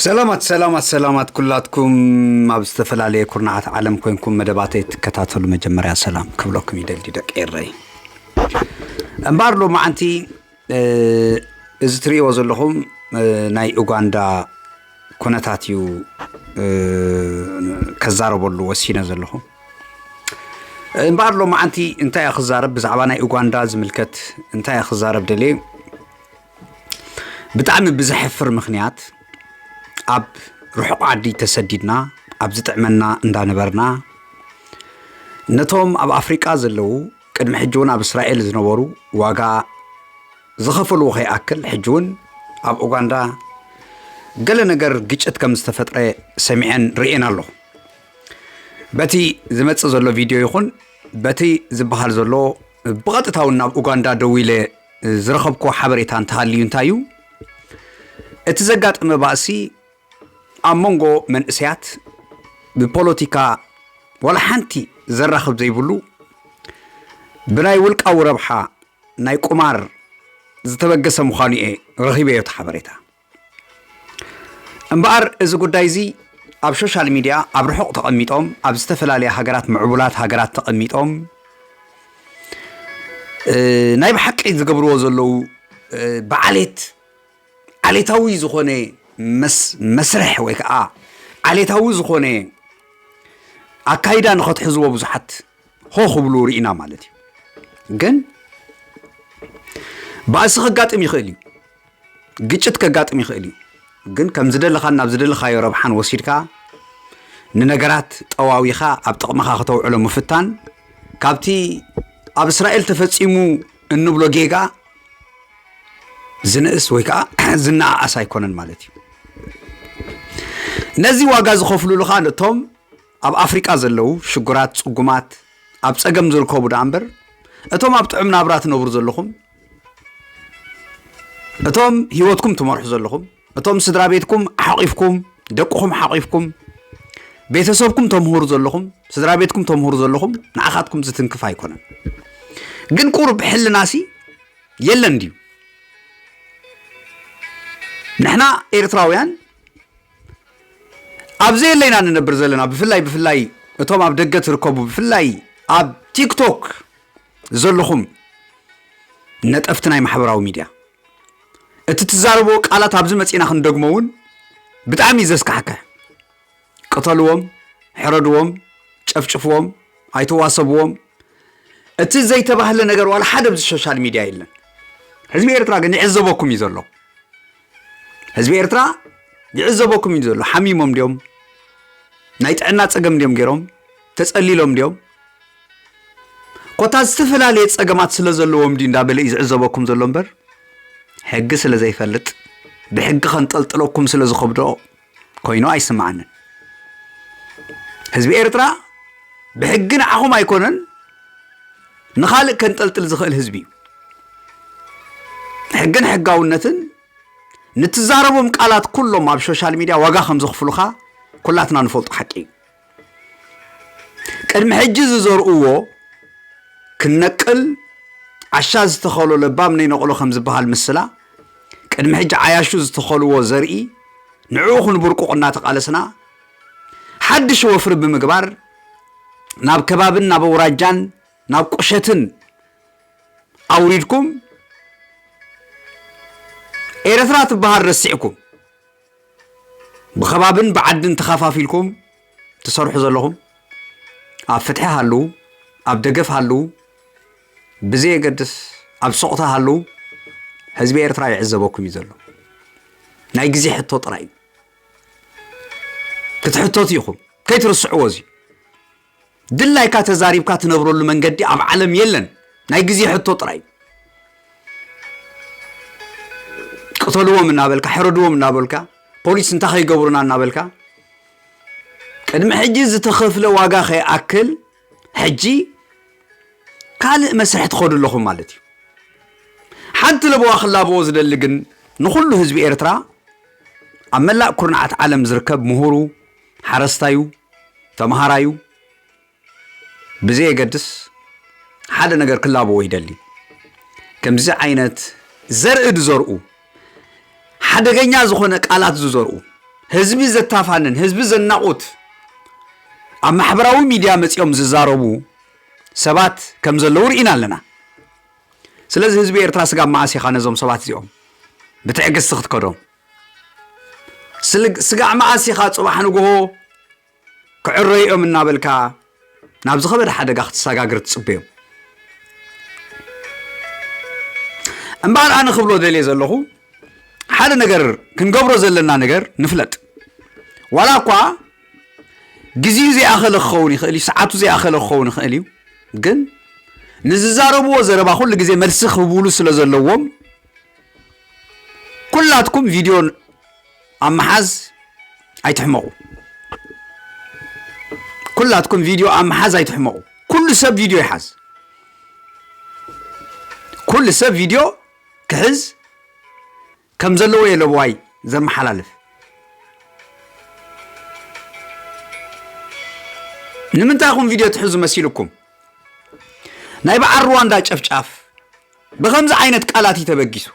ሰላማት ሰላማት ሰላማት ኩላትኩም ኣብ ዝተፈላለየ ኩርናዓት ዓለም ኮንኩም መደባተይ ትከታተሉ መጀመርያ ሰላም ክብለኩም ይደሊ ደቂ ኤረይ እምበኣር ሎማዓንቲ እዚ ትርእይዎ ዘለኹም ናይ ኡጋንዳ ኩነታት እዩ ከዛረበሉ ወሲነ ዘለኹ እምበኣር ሎማዓንቲ እንታይ እያ ክዛረብ ብዛዕባ ናይ ኡጋንዳ ዝምልከት እንታይ እያ ክዛረብ ደልየ ብጣዕሚ ብዘሕፍር ምኽንያት ኣብ ርሑቕ ዓዲ ተሰዲድና ኣብ ዝጥዕመና እንዳነበርና ነቶም ኣብ ኣፍሪቃ ዘለዉ ቅድሚ ሕጂ እውን ኣብ እስራኤል ዝነበሩ ዋጋ ዝኸፈልዎ ከይኣክል ሕጂ እውን ኣብ ኡጋንዳ ገለ ነገር ግጭት ከም ዝተፈጥረ ሰሚዐን ርእየን ኣለኹ በቲ ዝመፅእ ዘሎ ቪድዮ ይኹን በቲ ዝበሃል ዘሎ ብቐጥታ እውን ናብ ኡጋንዳ ደው ኢለ ዝረኸብክዎ ሓበሬታ እንተሃልዩ እንታይ እዩ እቲ ዘጋጠመ ባእሲ ኣብ መንጎ መንእሰያት ብፖለቲካ ዋላ ሓንቲ ዘራኽብ ዘይብሉ ብናይ ውልቃዊ ረብሓ ናይ ቁማር ዝተበገሰ ምዃኑ እየ ረኺበዮ እቲ ሓበሬታ እምበኣር እዚ ጉዳይ እዚ ኣብ ሾሻል ሚድያ ኣብ ርሑቕ ተቐሚጦም ኣብ ዝተፈላለያ ሃገራት ምዕቡላት ሃገራት ተቐሚጦም ናይ ብሓቂ ዝገብርዎ ዘለዉ ብዓሌት ዓሌታዊ ዝኾነ መስርሕ ወይ ከዓ ዓሌታዊ ዝኾነ ኣካይዳ ንኸትሕዝዎ ብዙሓት ሆ ክብሉ ርኢና ማለት እዩ ግን ባእሲ ከጋጥም ይኽእል እዩ ግጭት ከጋጥም ይኽእል እዩ ግን ከም ዝደለኻን ናብ ዝደለኻዮ ረብሓን ወሲድካ ንነገራት ጠዋዊኻ ኣብ ጥቕምኻ ከተውዕሎ ምፍታን ካብቲ ኣብ እስራኤል ተፈጺሙ እንብሎ ጌጋ ዝንእስ ወይ ከዓ ዝነኣኣስ ኣይኮነን ማለት እዩ ነዚ ዋጋ ዝኸፍሉሉ ከዓ ነቶም ኣብ ኣፍሪቃ ዘለዉ ሽጉራት ፅጉማት ኣብ ፀገም ዝርከቡ ደኣ እምበር እቶም ኣብ ጥዑም ናብራ ትነብሩ ዘለኹም እቶም ህይወትኩም ትመርሑ ዘለኹም እቶም ስድራ ቤትኩም ሓቂፍኩም ደቅኹም ሓቂፍኩም ቤተሰብኩም ተምህሩ ዘለኹም ስድራ ቤትኩም ተምህሩ ዘለኹም ንዓኻትኩም ዝትንክፍ ኣይኮነን ግን ቁሩብ ሕልናሲ የለን ድዩ ንሕና ኤርትራውያን ኣብ ዘየለይና ንነብር ዘለና ብፍላይ ብፍላይ እቶም ኣብ ደገ ትርከቡ ብፍላይ ኣብ ቲክቶክ ዘለኹም ነጠፍቲ ናይ ማሕበራዊ ሚድያ እቲ ትዛረብዎ ቃላት ኣብዚ መፂና ክንደግሞ እውን ብጣዕሚ እዩ ዘስካሕክሕ ቅተልዎም ሕረድዎም ጨፍጭፍዎም ኣይተዋሰብዎም እቲ ዘይተባህለ ነገር ዋላ ሓደ ኣብዚ ሶሻል ሚድያ የለን ህዝቢ ኤርትራ ግን ይዕዘበኩም እዩ ዘሎ ህዝቢ ኤርትራ ይዕዘበኩም እዩ ዘሎ። ሓሚሞም ድዮም ናይ ጥዕና ጸገም ድዮም ገይሮም ተጸሊሎም ድዮም ኮታ ዝተፈላለየ ጸገማት ስለ ዘለዎም ድዩ እንዳበለ እዩ ዝዕዘበኩም ዘሎ እምበር ሕጊ ስለ ዘይፈልጥ ብሕጊ ከንጠልጥለኩም ስለ ዝኸብዶ ኮይኑ ኣይስምዓንን ህዝቢ ኤርትራ ብሕጊ ንዓኹም ኣይኮነን ንኻልእ ከንጠልጥል ዝኽእል ህዝቢ እዩ ሕግን ሕጋውነትን ንትዛረቦም ቃላት ኩሎም ኣብ ሶሻል ሚድያ ዋጋ ከም ዘኽፍሉኻ ኩላትና ንፈልጦ ሓቂ እዩ ቅድሚ ሕጂ ዝዘርኡዎ ክነቅል ዓሻ ዝተኸሎ ለባም ነይነቕሎ ከም ዝበሃል ምስላ ቅድሚ ሕጂ ዓያሹ ዝተኸልዎ ዘርኢ ንዕኡ ክንብርቁቕ እናተቓለስና ሓድሽ ወፍሪ ብምግባር ናብ ከባብን ናብ ኣውራጃን ናብ ቁሸትን ኣውሪድኩም ኤረትራ ትበሃል ረሲዕኩም ብኸባብን ብዓድን ተኸፋፊልኩም ትሰርሑ ዘለኹም ኣብ ፍትሒ ሃልው ኣብ ደገፍ ሃልው ብዘየገድስ ኣብ ሶቕታ ሃልው ህዝቢ ኤርትራ ይዕዘበኩም እዩ ዘሎ ናይ ግዜ ሕቶ ጥራይ እዩ ክትሕተቱ ኢኹም ከይትርስዕዎ እዙዩ ድላይካ ተዛሪብካ ትነብረሉ መንገዲ ኣብ ዓለም የለን ናይ ግዜ ሕቶ ጥራይ ቅተልዎም እናበልካ ሕረድዎም እናበልካ ፖሊስ እንታይ ከይገብሩና እናበልካ ቅድሚ ሕጂ ዝተኸፍለ ዋጋ ከይኣክል ሕጂ ካልእ መስርሕ ትኸዱ ኣለኹም ማለት እዩ ሓንቲ ለበዋ ክላበዎ ዝደሊ ግን ንኹሉ ህዝቢ ኤርትራ ኣብ መላእ ኩርናዓት ዓለም ዝርከብ ምሁሩ ሓረስታዩ ተምሃራዩ ብዘየገድስ ሓደ ነገር ክላበዎ ይደሊ ከምዚ ዓይነት ዘርኢ ዝዘርኡ ሓደገኛ ዝኾነ ቃላት ዝዘርኡ ህዝቢ ዘታፋንን ህዝቢ ዘናቑት ኣብ ማሕበራዊ ሚድያ መፂኦም ዝዛረቡ ሰባት ከም ዘለዉ ርኢና ኣለና ስለዚ ህዝቢ ኤርትራ ስጋብ መዓስ ኢኻ ነዞም ሰባት እዚኦም ብትዕግስቲ ክትከዶም ስልግ ስጋዕ መኣስ ኢኻ ጽባሕ ንግሆ ክዕረዩ'ዮም እናበልካ ናብ ዝኸበደ ሓደጋ ክትሰጋግር ትጽበዮም እምበኣር ኣነ ክብሎ ደልየ ዘለኹ ሓደ ነገር ክንገብሮ ዘለና ነገር ንፍለጥ ዋላ እኳ ግዜኡ ዘይኣኸለ ክኸውን ይኽእል እዩ ሰዓቱ ዘይኣኸለ ክኸውን ይኽእል እዩ ግን ንዝዛረብዎ ዘረባ ኩሉ ግዜ መልሲ ክህብሉ ስለ ዘለዎም ኩላትኩም ቪድዮ ኣብ ምሓዝ ኣይትሕመቑ ኩላትኩም ቪድዮ ኣብ ምሓዝ ኣይትሕመቑ ኩሉ ሰብ ቪድዮ ይሓዝ ኩሉ ሰብ ቪድዮ ክሕዝ ከም ዘለዎ እየ ለብዋይ ዘመሓላልፍ ንምንታይ ኹም ቪድዮ ትሕዙ መሲልኩም ናይ በዓል ሩዋንዳ ጨፍጫፍ ብኸምዚ ዓይነት ቃላት እዩ ተበጊሱ።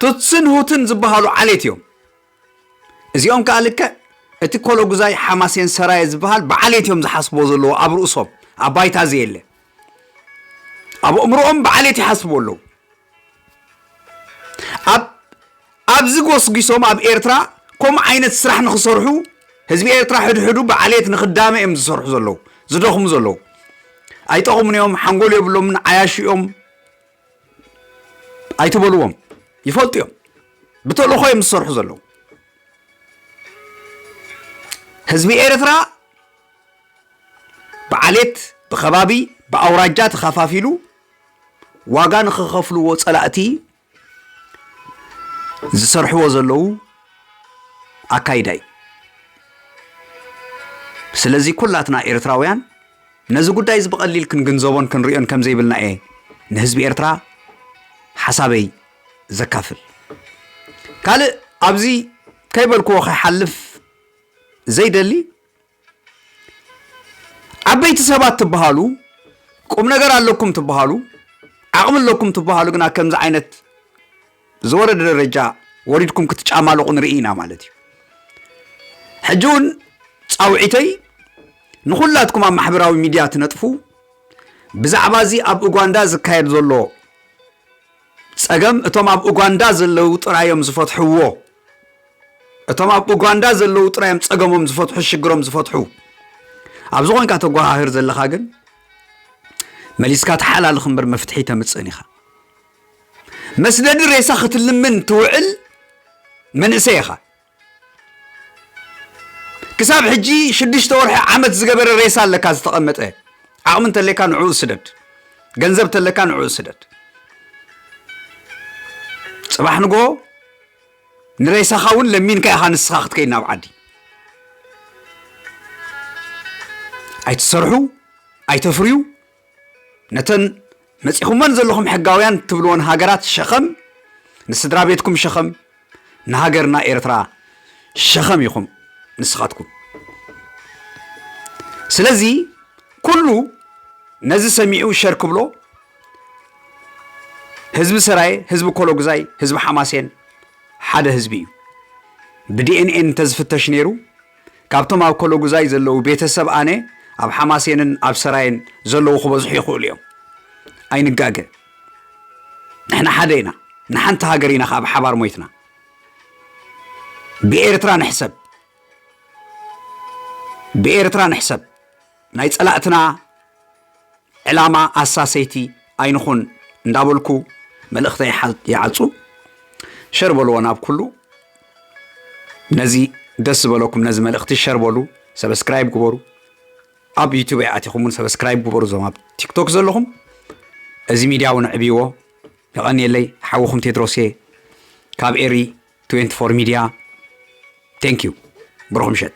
ቱትስን ሁትን ዝበሃሉ ዓሌት እዮም። እዚኦም ከዓ ልክዕ እቲ ኮሎጉዛይ ሓማሴን ሰራየ ዝበሃል ብዓሌት እዮም ዝሓስቦ ዘለዎ ኣብ ርእሶም ኣብ ባይታ ዘየለ ኣብ እምሮኦም ብዓሌት ይሓስቡ ኣለዉ ኣብ ኣብዚ ጎስጒሶም ኣብ ኤርትራ ከምኡ ዓይነት ስራሕ ንክሰርሑ ህዝቢ ኤርትራ ሕድሕዱ ብዓሌት ንክዳመ እዮም ዝሰርሑ ዘለዉ ዝደኽሙ ዘለዉ ኣይጠቕሙን እዮም ሓንጎል የብሎምን ዓያሹ እዮም ኣይትበልዎም ይፈልጡ እዮም ብተልእኾ እዮም ዝሰርሑ ዘለዉ ህዝቢ ኤርትራ ብዓሌት ብከባቢ ብኣውራጃ ተኸፋፊሉ ዋጋ ንኽኸፍልዎ ፀላእቲ ዝሰርሕዎ ዘለዉ ኣካይዳ እዩ። ስለዚ ኩላትና ኤርትራውያን ነዚ ጉዳይ እዚ ብቐሊል ክንግንዘቦን ክንሪኦን ከም ዘይብልና እየ ንህዝቢ ኤርትራ ሓሳበይ ዘካፍል። ካልእ ኣብዚ ከይበልክዎ ከይሓልፍ ዘይደሊ ዓበይቲ ሰባት ትበሃሉ ቁም ነገር ኣለኩም ትበሃሉ ዓቕሚ ኣለኩም ትበሃሉ ግና ከምዚ ዓይነት ዝወረደ ደረጃ ወሪድኩም ክትጫማለቑ ንርኢ ኢና ማለት እዩ ሕጂ እውን ፃውዒተይ ንኩላትኩም ኣብ ማሕበራዊ ሚድያ ትነጥፉ ብዛዕባ እዚ ኣብ ኡጋንዳ ዝካየድ ዘሎ ጸገም እቶም ኣብ ኡጋንዳ ዘለዉ ጥራይ እዮም ዝፈትሕዎ እቶም ኣብ ኡጋንዳ ዘለዉ ጥራይ እዮም ጸገሞም ዝፈትሑ ሽግሮም ዝፈትሑ ኣብዚ ኮንካ ተጓሃህር ዘለኻ ግን መሊስካ ተሓላልኽ እምበር መፍትሒ ተምፅእን ኢኻ መስደዲ ሬሳ ክትልምን ትውዕል መንእሰይ ኢኻ ክሳብ ሕጂ ሽዱሽተ ወርሒ ዓመት ዝገበረ ሬሳ ኣለካ ዝተቐመጠ ዓቕሚ እንተለካ ንዕኡ ስደድ ገንዘብ ተለካ ንዕኡ ስደድ ጽባሕ ንጎ ንሬሳኻ እውን ለሚንካ ኢኻ ንስኻ ክትከይድ ናብ ዓዲ ኣይትሰርሑ ኣይተፍርዩ ነተን መጺኹመን ዘለኹም ሕጋውያን ትብልወን ሃገራት ሸኸም ንስድራ ቤትኩም ሸኸም ንሃገርና ኤርትራ ሸኸም ኢኹም ንስኻትኩም ስለዚ ኩሉ ነዚ ሰሚዑ ሸር ክብሎ ህዝቢ ሰራየ ህዝቢ ኮሎግዛይ ህዝቢ ሓማሴን ሓደ ህዝቢ እዩ ብዲኤንኤን እንተዝፍተሽ ነይሩ ካብቶም ኣብ ኮሎጉዛይ ዘለዉ ቤተሰብ ኣነ ኣብ ሓማሴንን ኣብ ሰራየን ዘለዉ ክበዝሑ ይኽእሉ እዮም ኣይንጋገ ንሕና ሓደ ኢና ንሓንቲ ሃገር ኢና ከዓ ብሓባር ሞይትና ብኤርትራ ንሕሰብ ብኤርትራ ንሕሰብ ናይ ፀላእትና ዕላማ ኣሳሰይቲ ኣይንኹን እንዳበልኩ መልእኽተይ ይዓፁ። ሸር በልዎ ናብ ኩሉ ነዚ ደስ ዝበለኩም ነዚ መልእኽቲ ሸር በሉ፣ ሰብስክራይብ ግበሩ። ኣብ ዩቱብ ኣይኣቲኹም እውን ሰብስክራይብ ግበሩ። እዞም ኣብ ቲክቶክ ዘለኹም እዚ ሚድያ እውን ዕብይዎ። የቐንየለይ ሓውኹም ቴድሮስ እየ ካብ ኤሪ 24 ሚድያ ቴንክ ዩ ብሩኽ ምሸት